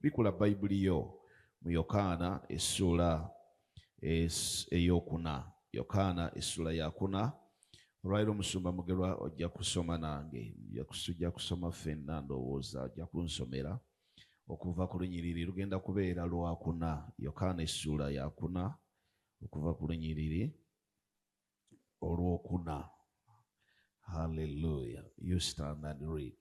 Bikula Bayibuli yo mu Yokaana essuula ey'okuna. Yokaana essuula ya kuna. Olwaliro Omusumba Mugerwa ojja kusoma nange, ojja kusoma ffenna ndowooza, ojja kunsomera okuva ku lunyiriri lugenda kubeera lwakuna yokaana essuula yakuna okuva ku lunyiriri olwokuna halleluya you stand and read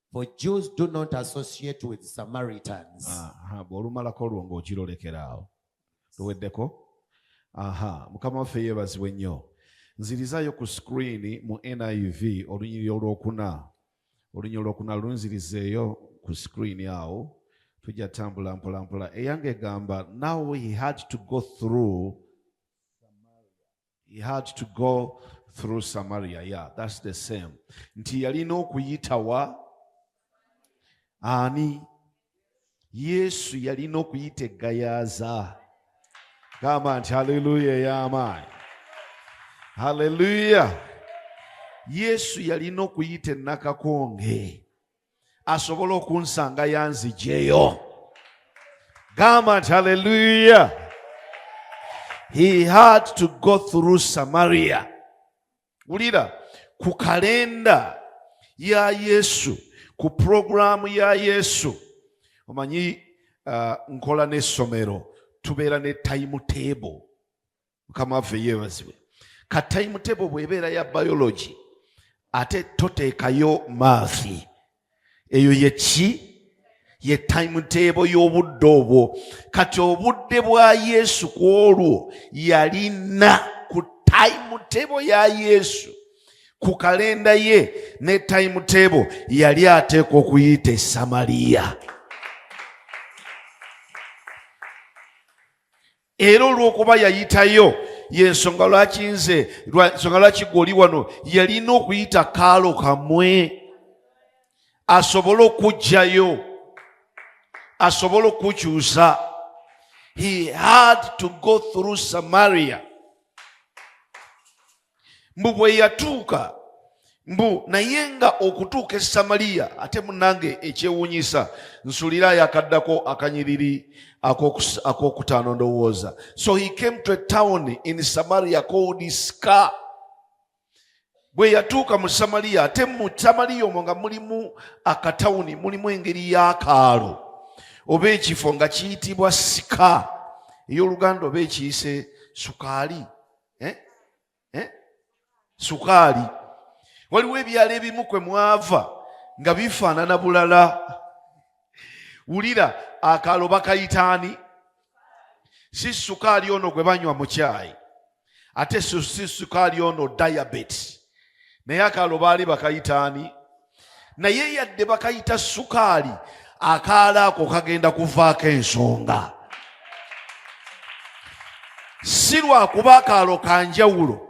For Jews do not associate with Samaritans. Aha, bw'olumalako olwo ng'okirolekera awo luweddeko aha mukama waffe yeebazibwe nnyo nzirizaayo ku sikuriini mu niv olunyiri olwokuna olunyiri olwokuna lunzirizeeyo ku sikuriini awo tujja tambula mpolampola eyange egamba now he had to go through He had to go through Samaria. Yeah, that's the same. Nti yalina okuyita wa ani? Yesu yalina okuyita eggayaaza. Gamba nti haleluya ey'amaanyi. Haleluya. Yesu yalina okuyita ennakakonge. asobola okunsanga yanzijeyo gamba nti haleluya he had to go through samaria wulira ku kalenda ya yesu ku puroguramu ya yesu omanyi uh, nkola n'essomero tubeera ne time table mukama waffe yeebazibwe ka time table bwebeera ya biology ate toteekayo maafi eyo yeki ye time table y'obudde obwo kati obudde bwa yesu ku olwo yalina ku time table ya yesu ku kalenda ye ne time table yali ateekwa okuyita esamaliya era olw'okuba yayitayo yensonga lwaki nze nsonga lwaki gwe oli wano yalina okuyita kaalo kamwe asobole okujjayo asobole okukyusa he had to go through samaria mbu bwe yatuuka mbu naye nga okutuuka e samaliya ate munange ekyewuunyisa nsulira ayakaddako akanyiriri ak'okutaano ndowooza so he came to a town in samaria called ska bwe yatuuka mu samaliya ate mu samaliya omwo nga mulimu akatawuni mulimu engeri y'akaalo oba ekifo nga kiyitibwa sika ey'oluganda oba ekiyise sukaali eh? Eh? sukaali waliwo ebyalo ebimu kwe mwava nga bifaanana bulala wulira akaalo bakayitaani si sukaali ono gwe banywa mu kyayi ate si sukaali ono diabetes naye akaalo baali bakayitaani naye yadde bakayita sukaali akaala ako kagenda kuvaako ensonga si lwakuba akaalo ka njawulo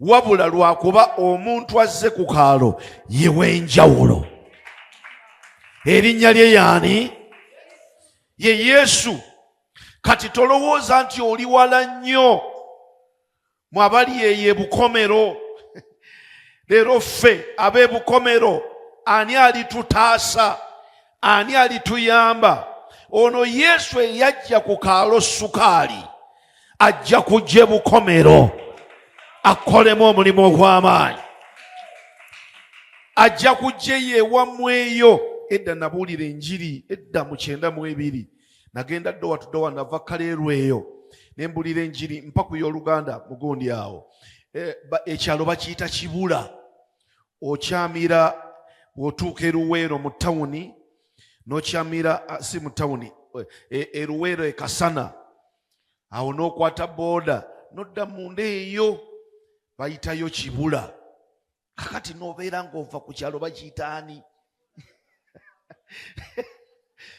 wabula lwakuba omuntu azze ku kaalo yew'enjawulo erinnya lye yaani ye yesu kati tolowooza nti oli wala nnyo mwabali eyo ebukomero leero ffe ab'ebukomero ani alitutaasa ani alituyamba ono yesu eyajja ku kaalo sukaali ajja kujja ebukomero akolemu omulimu ogw'amaanyi ajja kujja eyo ewammweyo edda nabuulira enjiri edda mu kyenda mu ebiri nagenda ddowa tudowa nava kaleerwa eyo ne mbulira enjiri mpaku y'oluganda mugundi awo e, ekyalo bakiyita kibula okyamira bw'otuuka eruweero mu tawuni n'okyamira si mu tawuni eruweero e, ekasana awo n'okwata booda nodda munda eyo bayitayo kibula kakati nobeera ngaova ku kyalo bakiyitaani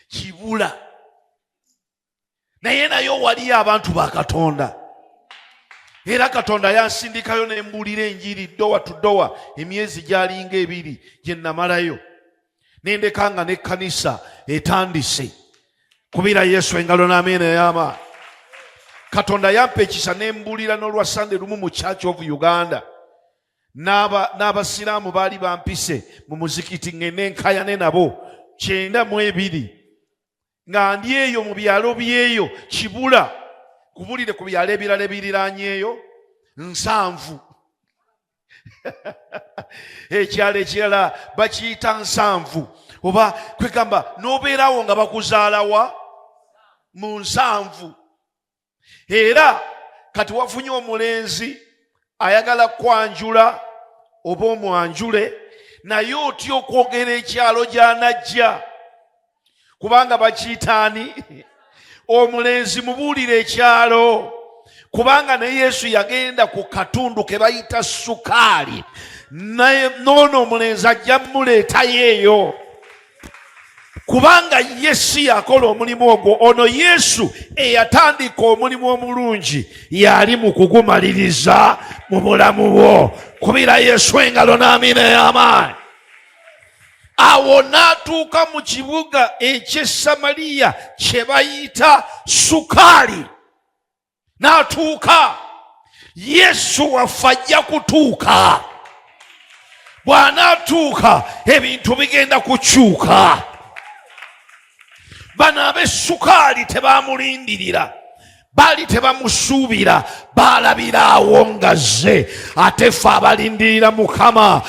kibula naye naye owaliyo abantu ba katonda era katonda yansindikayo nembuulira enjiri ddowa tuddowa emyezi gyalinga ebiri gyenamalayo nendeka nga nekkanisa etandise kubira yesu engalo n'ameena ey'amaani katonda yampa ekisa ne mbuulira n'olwa sande lumu mu church of uganda n'abasiraamu baali bampise mu muzikiti ngende nkayane nabo kyenda mu ebiri nga ndi eyo mu byalo byeyo kibula kubulire ku byalo ebirala ebiriranyeeyo nsanvu ekyalo ekirala bakiyita nsanvu oba kwegamba n'obeerawo nga bakuzaalawa mu nsanvu era kati wafunye omulenzi ayagala kwanjula oba omwanjule naye otya okwogera ekyalo gyanajja kubanga bakiyitaani omulenzi mubuulire ekyalo kubanga ne yesu yagenda ku katundu ke bayita sukaali noono omulenzi ajja muleetayo eyo kubanga ye si yakola omulimu ogwo ono yesu eyatandika omulimu omulungi yali mu kugumaliriza mu bulamu bwo kubira yesu engalo n'amiina ey'amaanyi awo n'atuuka mu kibuga eky'esamaliya kye bayita sukaali n'atuuka yesu waffe ajja kutuuka bw'anaatuuka ebintu bigenda kukyuka bano ab'essukaali tebaamulindirira baali tebamusuubira baalabira awo ngazze ate ffe abalindirira mukama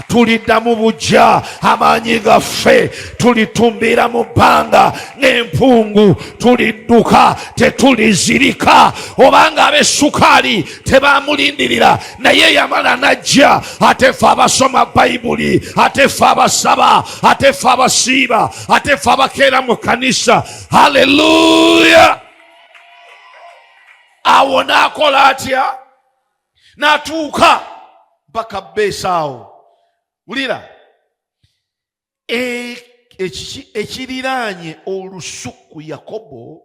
tulidda mu bujja amaanyi gaffe tulitumbira mu bbanga n'empungu tulidduka tetulizirika obanga abesukaali tebamulindirira naye yamala najja ate fe abasoma bayibuli ate fe abasaba ate fe abasiiba ate fe abakeera mu kanisa haleluya awo naakola atya n'atuuka mpaka beesaawo wulira e, ekiriraanye olusuku yakobo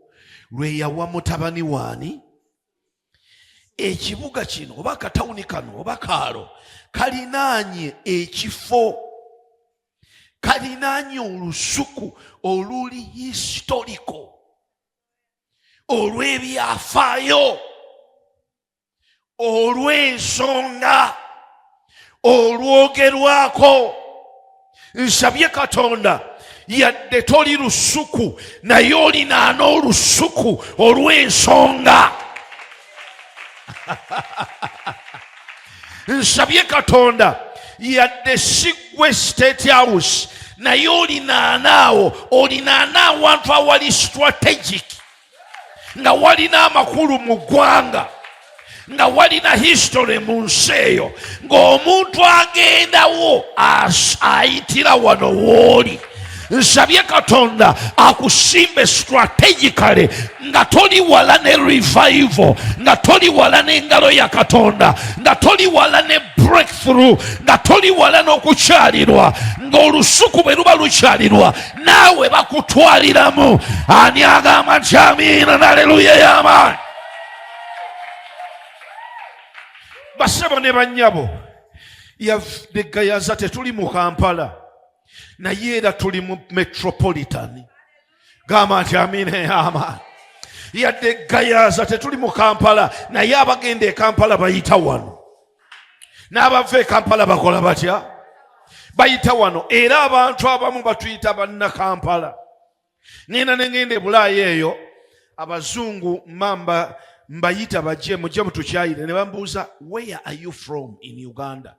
lwe yawa mutabani waani ekibuga kino oba akatawuni kano oba kaalo kalinaanye ekifo kalinaanye olusuku oluli historiko olw'ebyafaayo olw'ensonga olwogerwako nsabye katonda yadde toli lusuku naye olinaana olusuku olw'ensonga nsabye katonda yadde sigwe state house naye olinaanaawo olinaana awantu awali strategic nga walina amakulu mu ggwanga nga walina history mu nsi eyo ng'omuntu agendawo ayitira wano wooli nsabye katonda akusimbe strategically nga toli wala ne revival nga toli wala n'engalo ya katonda nga toli wala ne breakthrough nga toli wala n'okukyalirwa ng'olusuku bwe luba lukyalirwa naawe bakutwaliramu ani agamba nti amiina naleluya yamaani basebo ne banyabo yadegayaza tetuli mu kampala naye era tuli mu metropolitan gamba nti amiina yamaani yadde gayaza tetuli mu kampala naye abagenda e kampala bayita wano n'abava e kampala bakola batya bayita wano era abantu abamu batuyita bannakampala ŋenda ne ŋenda ebulaayo eyo abazungu mamba mbayita bajje mujje mutukyayire ne bambuuza where are you from in uganda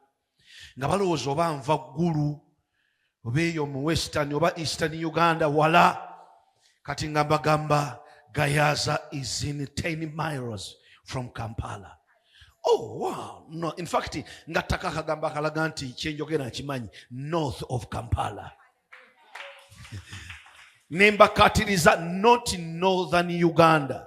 nga balowooza oba nva ggulu oba eyo mu western oba eastern uganda wala kati nga mbagamba gayaza is in 10 miles from kampala oh wow no in fact nga ttaka akagamba akalaga nti kyenjogera nkimanyi north of kampala nembakatiriza not northern uganda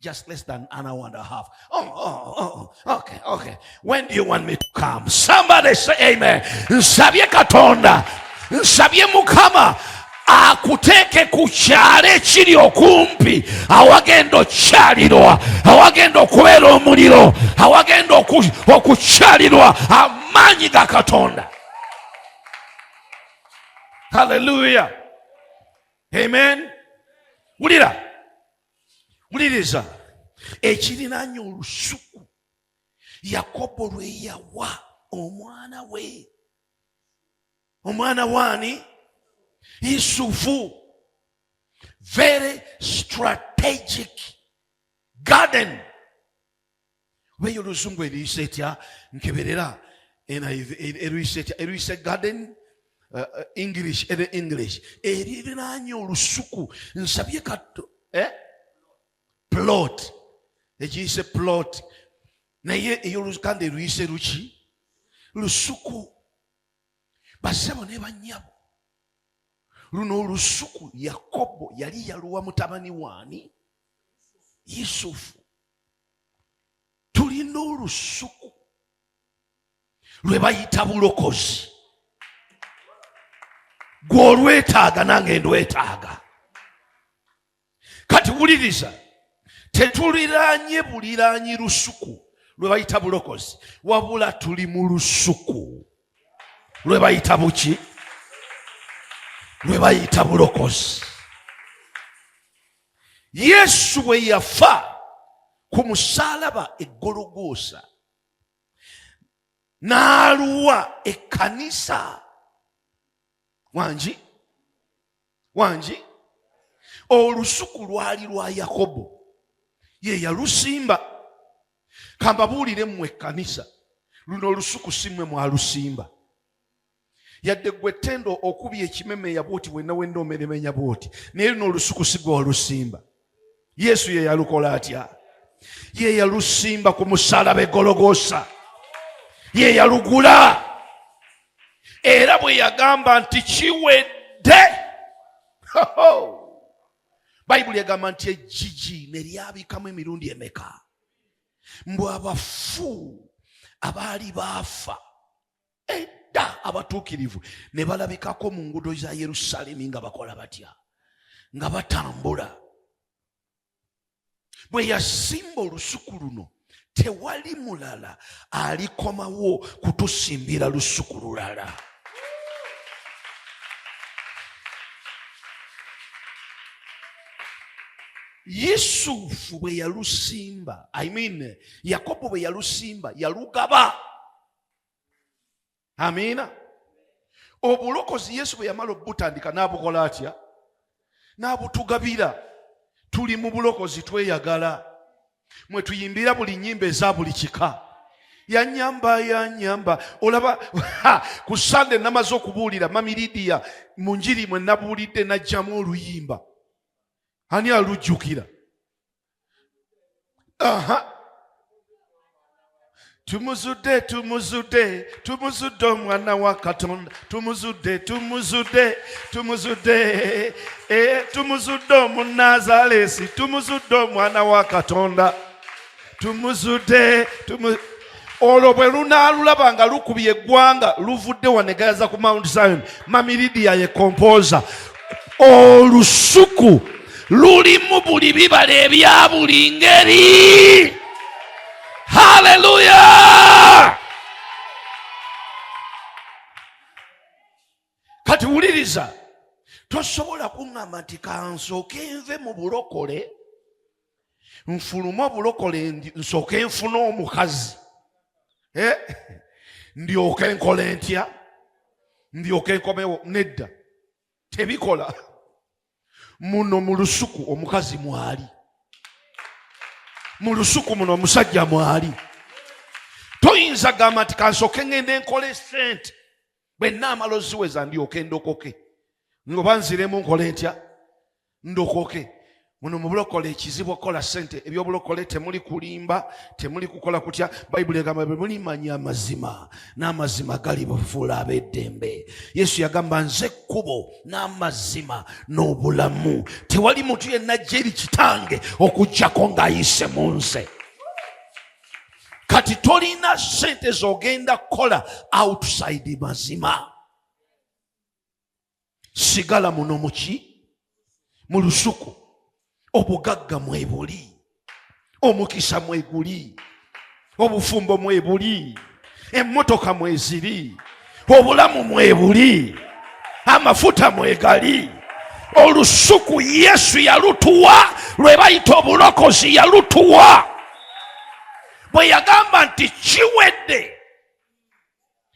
Just less than an hour and a half. Oh, oh, oh, oh. okay, okay. When do you want me to come? Somebody say amen. Nsabye Katonda. Nsabye Mukama. akuteeke ku kyalo ekiri okumpi awagenda okukyalirwa awagenda okubeera omuliro awagenda okukyalirwa amaanyi ga katonda haleluya amen wulira wuliriza ekirinaanya olusuku yakobo lwe yawa omwana we omwana waani yusufu very strategic garden oba eyo luzungu eriyisa etya nkeberera eriyisa etya eriyisa garden uh, uh, english ere english eririraanye olusuku nsabye katto eh? plot ekiyise plot naye eyolukanda eruyise luki lusuku basebo ne banyabo luno olusuku yakobo yali yaluwa mutabani waani yusufu tulina olusuku lwe bayita bulokozi gw'olwetaaga nange ndwetaaga kati wuliriza tetuliraanye buliraanyi lusuku lwe bayita bulokozi wabula tuli mu lusuku lwe bayita buki lwe bayita bulokozi Yesu bwe yafa ku musaalaba eggologoosa n'aluwa ekkanisa wangi wangi olusuku lwali lwa yakobo ye yalusimba kambabuulire mmwe ekkanisa luno olusuku si mmwe mwalusimba yadde gwe tendo okubya ekimemeya bwoti wenna wenna omeremenya bwoti naye luno olusuku sigwe walusimba yesu ye yalukola atya ye yalusimba ku musalaba egologosa ye yalugula era bwe yagamba nti kiwedde bayibuli egamba nti ejjiji neryabikamu emirundi emeka mbu abafu abaali baafa edda abatuukirivu ne balabikako mu ngudo za yerusalemi nga bakola batya nga batambula bwe yasimba olusuku luno tewali mulala alikomawo kutusimbira lusuku lulala yusufu bwe yalusimba i mean yakobo bwe yalusimba yalugaba amiina obulokozi yesu bwe yamala obutandika n'abukola atya n'abutugabira tuli mu bulokozi tweyagala mwe tuyimbira buli nyimba eza buli kika yanyamba yanyamba olaba ku sande namaze okubuulira mami lidiya mu njiri mwe nabuulidde najjamu oluyimba ani alujjukira Aha. Tumuzudde, tumuzudde, tumuzudde omwana wa Katonda. Tumuzudde, tumuzudde, tumuzudde. Eh, tumuzudde omunazalesi, tumuzudde omwana wa Katonda. Tumuzudde, tumuzudde. olwo bwe lunaalulaba nga lukubye eggwanga luvudde wanegayaza ku mount zion mamiridiya ye kompooza olusuku lulimu buli bibala ebya buli ngeri haleluya kati wuliriza tosobola kuŋŋamba nti kansooke nve mu bulokole nfulume obulokole nsooke nfune omukazi eh? ndyoke nkole ntya ndyoke nkomewo nedda tebikola muno mu lusuku omukazi mwali mu lusuku muno omusajja mwali toyinza gamba nti kansooke ŋŋende nkole sente bwe naamala oziweza ndyoke ndokoke ngoba nziremu nkole ntya ndokoke muno mubulokole ekizibu okukola sente ebyobulokole temuli kulimba temuli kukola kutya bayibuli egamba bwe mulimanya amazima n'amazima gali bufuula ab'eddembe yesu yagamba nze ekkubo n'amazima n'obulamu tewali muntu yenna jeri kitange okugyako ng'ayise mu nze kati tolina sente zogenda kukola outside mazima sigala muno muki mu lusuku obugagga mwebuli omukisa mweguli obufumbo mwebuli emmotoka mweziri obulamu mwebuli amafuta mwegali olusuku yesu yalutuwa lwe bayita obulokozi yalutuwa bwe yagamba nti kiwedde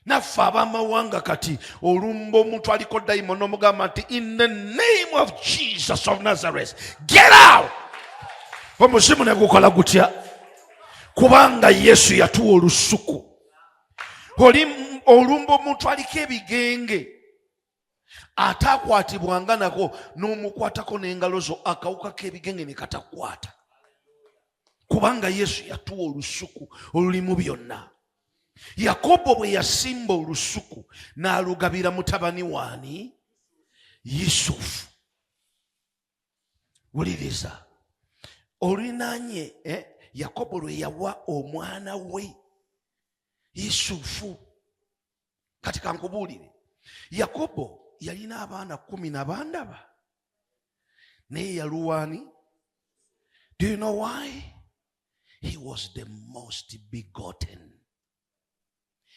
naffe abamawanga kati olumba omuntu aliko dayimo nomugamba nti in the name of jesus of nazareth get out omuzimu negukola gutya kubanga yesu yatuwa olusuku oli olumba omuntu aliko ebigenge ate akwatibwanga nako n'omukwatako n'engalo zo akawuka k'ebigenge ne katakwata kubanga yesu yatuwa olusuku olulimu byonna yakobo bwe yasimba olusuku n'alugabira mutabani waani yusufu wuliriza olinaanye eh, yakobo lwe yawa omwana we yusufu kati kankubuulire yakobo yalina abaana kumi na bandaba naye yaluwaani do you know why he was the most begotten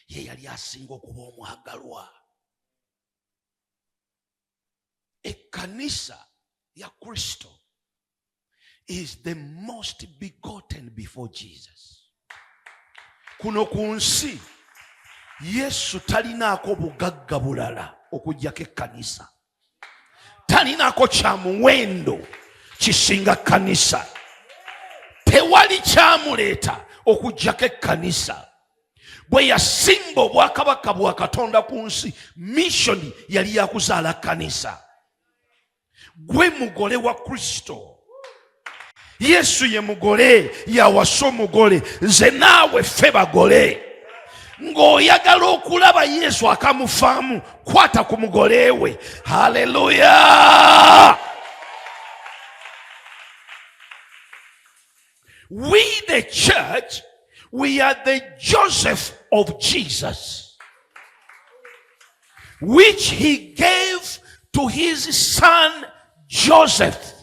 ye yali asinga okuba omwagalwa ekkanisa ya kristo is the most begotten before jesus kuno ku nsi yesu talinaako bugagga bulala okujjako ekkanisa talinaako kya muwendo kisinga kkanisa tewali kyamuleeta okujjako ekkanisa bwe yasimba obwakabaka bwa katonda ku nsi mishoni yali yakuzaala kanisa gwe mugole wa kristo yesu ye mugole yawasa omugole nze naawe ffe bagole ng'oyagala okulaba yesu akamufaamu kwata ku mugole we haleluya We the church, we are the Joseph of Jesus, which he gave to his son Joseph.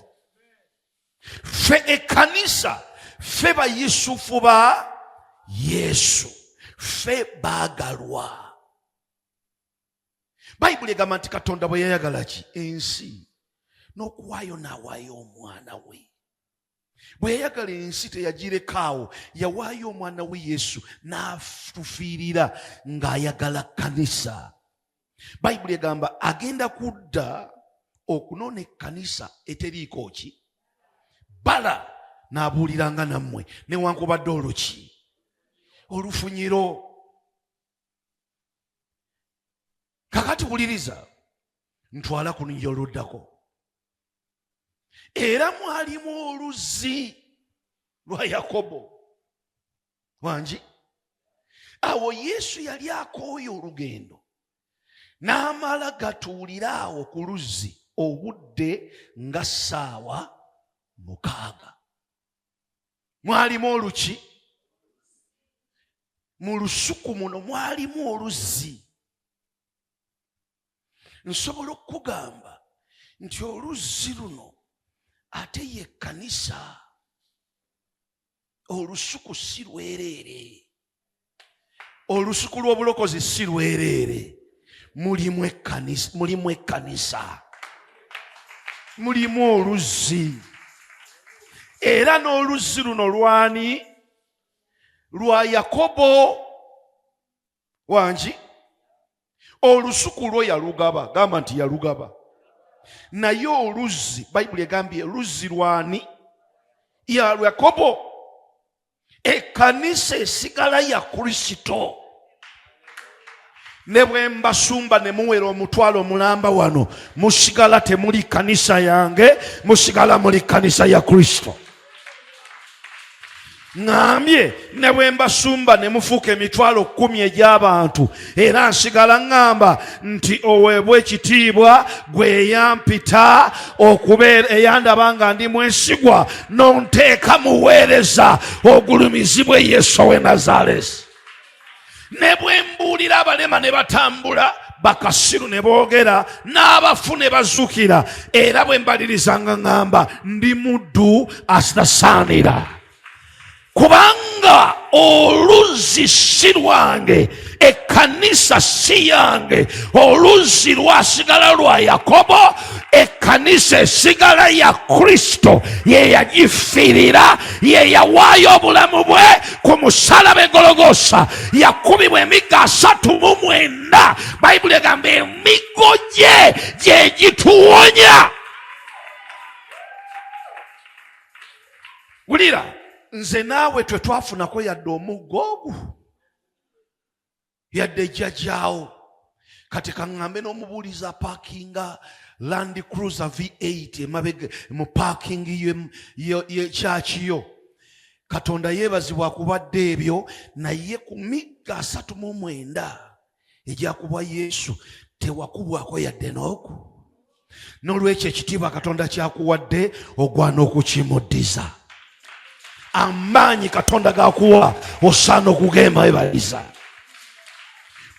Fe ekanisa, fe ba Yusufu ba Yesu, fe bagalwa. Bible egamba nti Katonda bwe yayagala ki ensi n'okuwaayo n'awaayo omwana we bwe yayagala ensi teyagirekaawo yawaayo omwana we yesu n'atufiirira ng'ayagala kanisa bayibuli egamba agenda kudda okunona ekkanisa eteriiko ki bala n'abuuliranga nammwe newankubadde oluki olufunyiro kakati wuliriza ntwala ku lunyira oluddako era mwalimu oluzzi lwa yakobo wangi awo yesu yali akooye olugendo n'amala gatuulira awo ku luzzi obudde nga ssaawa mukaaga mwalimu oluki mu lusuku muno mwalimu oluzzi nsobola okukugamba nti oluzzi luno ate ye kkanisa olusuku si lwereere olusuku lw'obulokozi si lwereere mulimu ekkanisa mulimu ekkanisa mulimu oluzzi era n'oluzzi luno lwani lwa yakobo wangi olusuku lwo yalugaba gamba nti yalugaba naye oluzzi bayibuli egambye luzzi lwani ya yakobo ekkanisa esigala ya kristo ne bwe mbasumba ne muwera omutwalo mulamba wano musigala temuli kkanisa yange musigala muli kkanisa ya kristo ŋambye ne bwe mbasumba ne mufuuka emitwalo kkumi egy'abantu era nsigala ŋŋamba nti oweebwa ekitiibwa gwe eyampita okubeera eyandaba nga ndi mwesigwa nonteeka muweereza ogulumizibwe yesu owe nazaalesi ne bwe mbuulira abalema ne batambula bakasiru ne boogera n'abafu ne bazukira era bwe mbalirizanga ŋŋamba ndi muddu asitasaanira kubanga oluzzi si lwange ekkanisa si yange oluzzi lwasigala lwa yakobo ekkanisa esigala ya kristo ye yagifiirira ye yawaayo obulamu bwe ku musalaba egologosa yakubibwa emiggo asatu mu mwenda bayibuli egamba emiggo gye gye gituwonya wulira nze naawe twe twafunako yadde omuggo ogwo yadde jjajaawo kati kaŋŋambe n'omubuuliza paakinga land cruiser v8 emabega mu paakingi yekyaki yo katonda yeebazibwa kubadde ebyo naye ku migga asatu mu mwenda egyakubwa yesu tewakubwako yadde n'oku n'olwekyo ekitiibwa katonda kyakuwadde ogwana okukimuddiza amaanyi katonda gakuwa osaana okugenda webaliza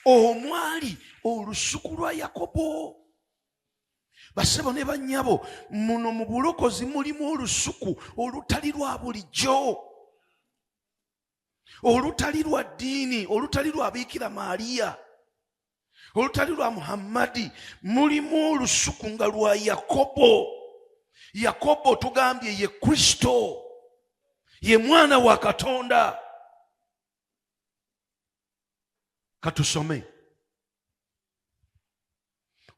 omwali olusuku lwa yakobo basebo ne bannyabo muno mu bulokozi mulimu olusuku olutali lwa bulijjo olutali lwa ddiini olutali lwa biikira maaliya olutali lwa muhammadi mulimu olusuku nga lwa yakobo yakobo tugambye ye kristo ye mwana wa katonda katusome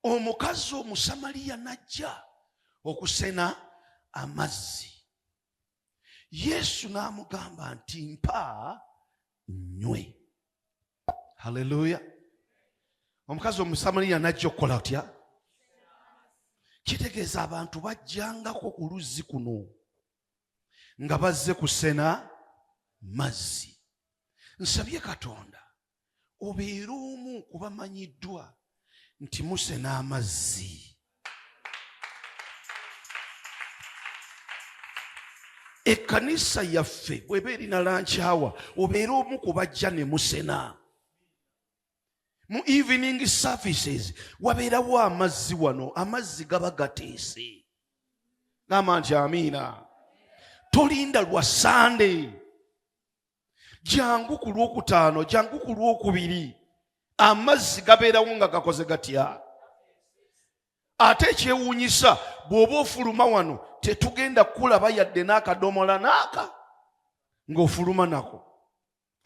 omukazi omusamaliya najja okusena amazzi yesu n'amugamba nti mpa nywe haleluya omukazi omusamaliya najja okukola otya kitegeeza abantu bajjangako ku luzzi kuno nga bazze kusena mazzi nsabye katonda obeera omu kubamanyiddwa nti muse n'amazzi ekkanisa yaffe bweba erina lankyawa obeera omu ku bajja ne musena mu evening services wabeerawo amazzi wano amazzi gaba gateese gamba nti amiina tolinda lwa sande jangu ku lwokutaano jangu ku lwokubiri amazzi gabeerawo nga gakoze gatya ate ekyewuunyisa bw'oba ofuluma wano tetugenda kukulaba yadde n'akadomola naaka ng'ofuluma nako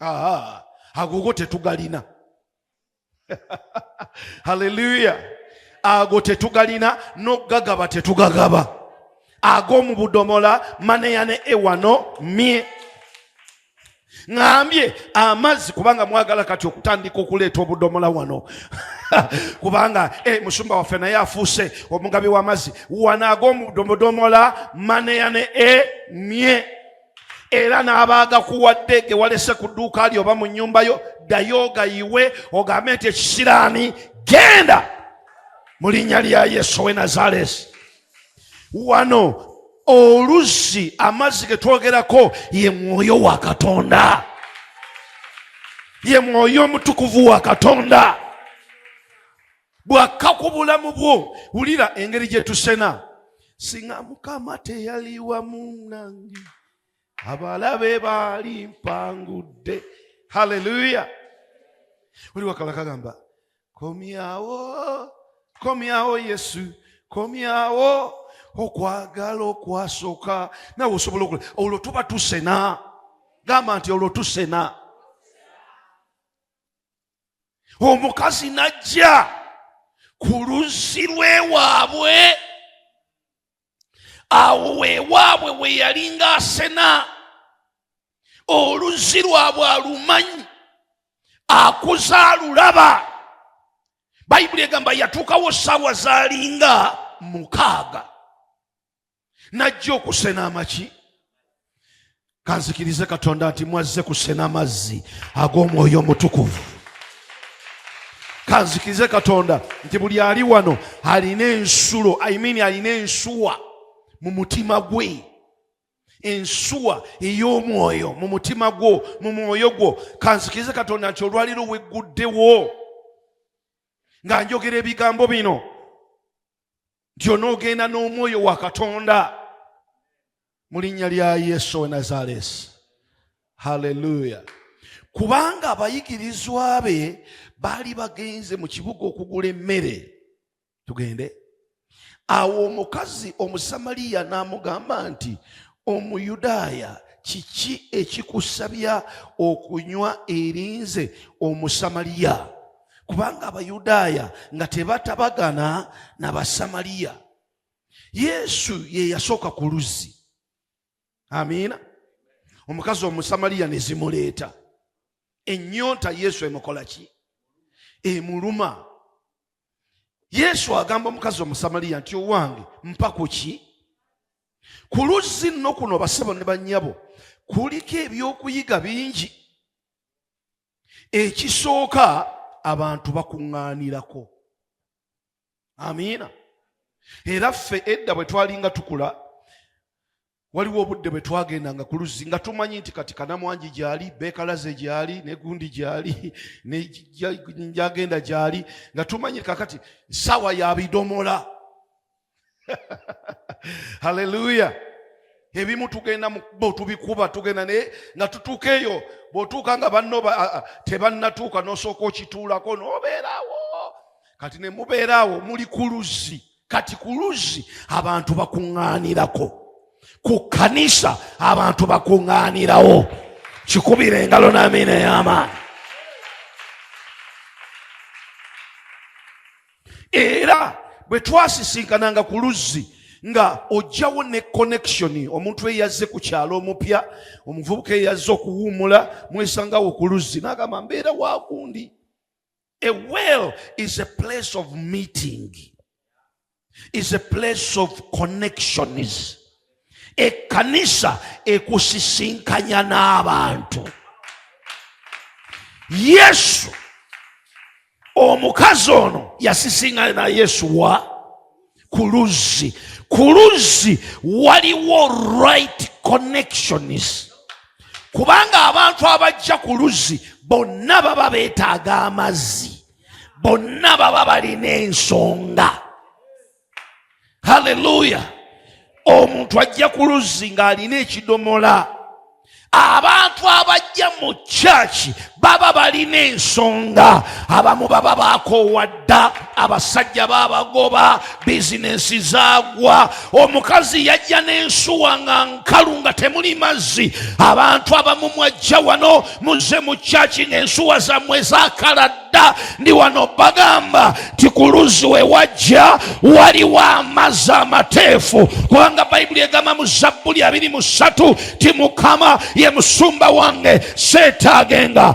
aa agogo tetugalina haleluya ago tetugalina nokugagaba tetugagaba ag'omu budomola maneya ne ewano mye ngambye amazzi kubanga mwagala kati okutandika okuleeta obudomola wano kubanga e, musumba waffe naye afuuse omugabi w'amazzi wanaaga omudomodomola maneya ne e mye era n'abaaga kuwadde ge walese ku dduuka lyo oba mu nnyumba yo ddayo ogayiwe ogambe nti ekisiraani genda mu linnya lya yesu owe nazaleesi wano oluzzi amazzi ge twogerako ye mwoyo wa katonda ye mwoyo omutukuvu wa katonda bwakka ku bulamu bwo wulira engeri gye tusena singa mukama teyali wamu nange abalabe baali mpangudde haleluya oli wakala kagamba komyawo komyawo yesu komyawo okwagala okwasooka nawe osobola okula olwo tuba tusena gamba nti olwo tusena omukazi najja ku luzzi lwewaabwe awo wewaabwe we yali ngaasena oluzzi lwabwe alumanyi akuza alulaba bayibuli egamba yatuukawo saawa zalinga mukaaga najja okusena amaki kanzikirize katonda nti mwazze kusena amazzi ag'omwoyo omutukuvu kanzikirize katonda nti buli ali wano alina ensulo i mean alina ensuwa mu mutima gwe ensuwa ey'omwoyo mu mutima gwo mu mwoyo gwo kanzikirize katonda nti olwaliro wegguddewo nga njogera ebigambo bino nti onoogenda n'omwoyo wa katonda mu linnya lya yesu we nazaleesi halleluya kubanga abayigirizwa be baali bagenze mu kibuga okugula emmere tugende awo omukazi omusamaliya n'amugamba nti omuyudaaya kiki ekikusabya okunywa erinze omusamaliya kubanga abayudaaya nga tebatabagana na basamaliya yesu ye yasooka ku luzzi amiina omukazi omusamaliya ne zimuleeta ennyonta yesu emukola ki emuluma yesu agamba omukazi omusamaliya nti owange mpa ku ki ku luzzi nno kuno basebo ne bannyabo kuliko ebyokuyiga bingi ekisooka abantu bakuŋŋaanirako amiina era ffe edda bwe twalinga tukula waliwo obudde bwe twagendanga ku luzzi nga tumanyi nti kati kanamwangi gyali beekalaze gyali negundi gyali nejagenda gyali nga tumanyi kakati saawa yabidomola haleluya ebimu tugenda mukubo tubikuba tugenda naye nga tutuuka eyo bwotuuka nga banno tebannatuuka nosooka okituulako nobeerawo kati ne mubeerawo muli ku luzzi kati ku luzzi abantu bakuŋŋaanirako ku kkanisa abantu bakuŋŋaanirawo kikubira engalo n'amiina ey'amaanyi era bwe twasisinkananga ku luzzi nga ojjawo ne connection omuntu eyazze ku kyalo omupya omuvubuka eyazze okuwuumula mwesangawo ku luzzi nagamba mbeera wakundi a well is a place of meeting is a place of connections ekkanisa ekusisinkanya n'abantu yesu omukazi ono yasisinkanya na yesu wa ku luzzi ku luzzi waliwo right connections kubanga abantu abajja ku luzzi bonna baba beetaaga amazzi bonna baba balina ensonga haleluya omuntu ajja ku luzzi ng'alina ekidomola abantu abajja mu kyaki baba balina ensonga abamu baba bakoowadda abasajja babagoba bizinensi zagwa omukazi yajja n'ensuwa nga nkalu nga temuli mazzi abantu abamu mwajja wano muze mu kyaki ng'ensuwa zammwe zakalad dda ndi wano bagamba nti ku luzzi we wajja waliwo amazzi amateefu kubanga bayibuli egamba mu zabbuli abiri mu ssatu ti mukama ye musumba wange seetaagenga